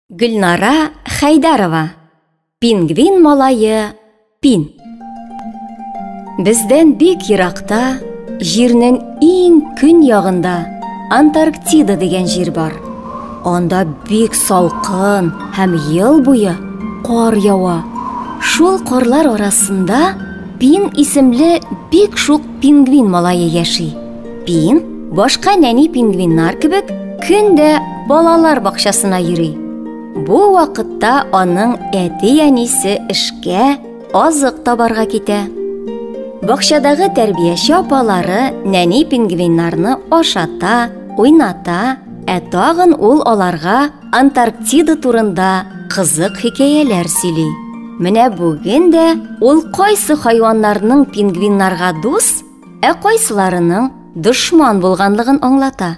Гөлнара Хәйдәрова Пингвин малайы Пин Бездән бик еракта, җирнең иң көн ягында Антарктида дигән җир бар. Анда бик салкын һәм ел буе кар ява. Шул карлар арасында Пин исемле бик шук пингвин малае яши. Пин, башка нәни пингвиннар кебек, көн дә балалар бакчасына йөри. Бу вакытта аның әти-әнисе эшкә азык табарга китә. Бакчадагы тәрбияче апалары нәни пингвиннарны ашата, уйната, ә тагын ул аларга Антарктида турында кызык хикәяләр сөйли. Менә бүген дә ул кайсы хайваннарның пингвиннарга дус, Ә кайсыларының дошман булганлыгын аңлата.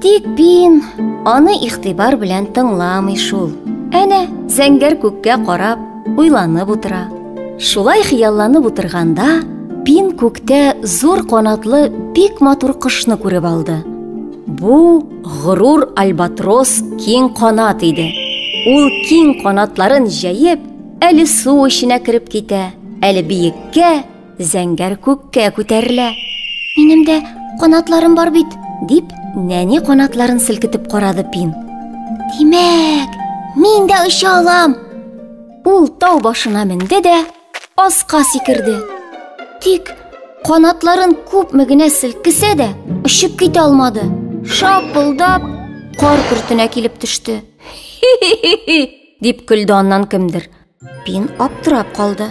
Тик Пин аны ихтибар белән тыңламый шул. Әнә, зәңгәр күккә карап, уйланып утыра. Шулай хыялланып утырганда, Пин күктә зур канатлы бик матур кошны күреп алды. Бу горур альбатрос киң канат иде. Ул киң канатларын җәеп, әле су эченә кереп китә, әле биеккә, Зәңгәр күккә күтәрелә. Минем дә канатларым бар бит, дип, нәни канатларын селкетеп карады Пин. Димәк, мин дә оча алам. Ул тау башына менде дә аска сикерде. Тик канатларын күпме генә селкесә дә, очып китә алмады. Шапылдап кар көртенә килеп төште. Хи-хи-хи, дип көлде аннан кемдер. Пин аптырап калды.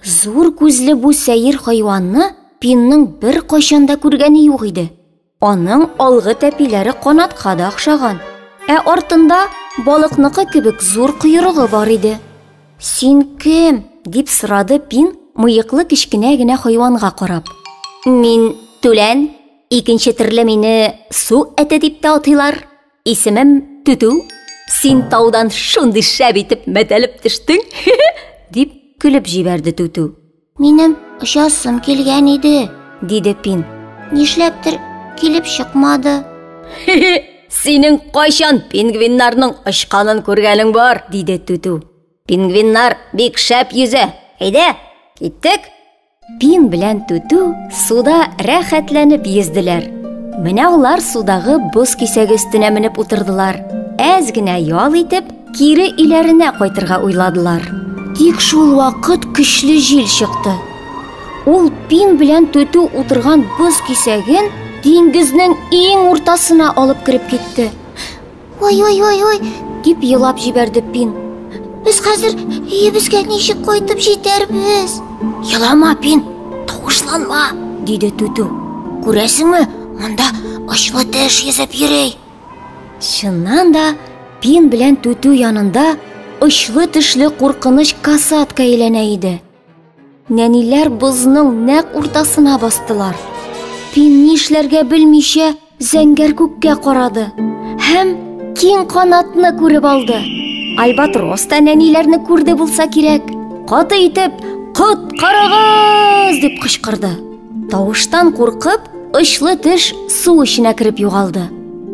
Зур күзле бу сәер хайванны Пинның бер кайчан да күргәне юк иде. Аның алгы тәпиләре канатка да охшаган, ә артында балыкныкы кебек зур койрыгы бар иде. Син кем? дип сорады Пин мыеклы кечкенә генә хайванга карап. Мин түлән, икенче төрле мине су әте дип тә атыйлар, Исемем Түтү. Син таудан шундый шәп итеп мәтәлеп төштең, дип көлеп җибәрде Түтү. Минем очасым килгән иде, диде Пин. Нишләптер килеп чыкмады. Синең кайчан пингвиннарның очканын күргәнең бар, диде Түтү. Пингвиннар бик шәп йөзә. Әйдә, киттек. Пин белән Түтү суда рәхәтләнеп йөзделәр. Менә алар судагы боз кисәге өстенә менеп утырдылар. Әз генә ял итеп, кире өйләренә кайтырга уйладылар. Тик шул вакыт көчле җил чыкты. Ул Пин белән Түтү утырган боз кисәген диңгезнең иң уртасына алып кереп китте. Ой-ой-ой-ой, дип елап җибәрде Пин. Без хәзер өебезгә ничек кайтып җитәрбез? Елама, Пин, тавышланма, диде Түтү. Күрәсеңме, монда очлы теш йөзеп йөри. Чыннан да Пин белән Түтү янында очлы тешле куркыныч касатка әйләнә иде. Нәниләр бозның нәк уртасына бастылар. Пин ни эшләргә белмичә зәңгәр күккә карады һәм киң канатны күреп алды. Альбатрос та нәниләрне күрде булса кирәк. Каты итеп «Коткарыгыз!» дип кычкырды. Тавыштан куркып, очлы теш су эченә кереп югалды.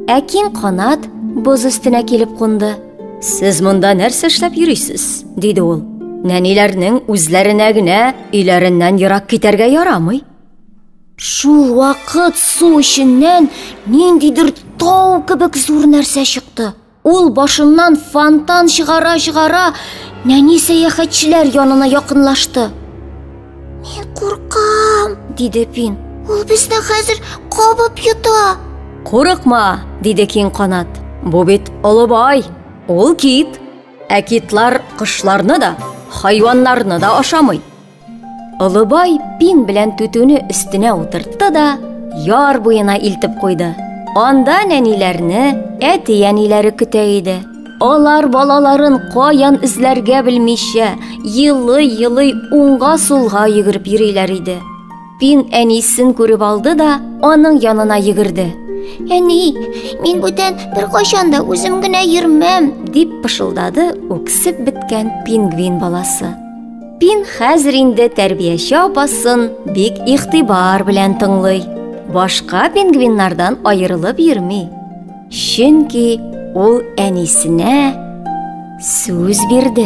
Ә киң канат боз өстенә килеп кунды. Сез монда нәрсә эшләп йөрисез? диде ул. Нәниләрнең үзләренә генә өйләреннән ерак китәргә ярамый. Шул вакыт су эченнән ниндидер тау кебек зур нәрсә чыкты. Ул башыннан фонтан чыгара-чыгара нәни сәяхәтчеләр янына якынлашты. Мин куркам, диде Пин. Ул безне хәзер кабып йота. Курыкма, диде Киң канат. Бу бит олы бай. Ул кит. Ә китлар кышларны да, хайваннарны да ашамый. Олы бай Пин белән түтүне өстенә утыртты да яр буена илтеп куйды. Анда нәниләрне әти-әниләре көтә иде. Алар балаларын каян эзләргә белмичә, елый-елый уңга-сулга йөгереп йөриләр иде. Пин әнисен күреп алды да, аның янына йөгерде. Әни, мин бүтән бер кайчан да үзем генә йөрмәм, дип пышылдады үксеп беткән пингвин баласы. Пин хәзер инде тәрбияче апасын бик игътибар белән тыңлый. Башка пингвиннардан аерылып йөрми. Чөнки ул әнисенә сүз бирде.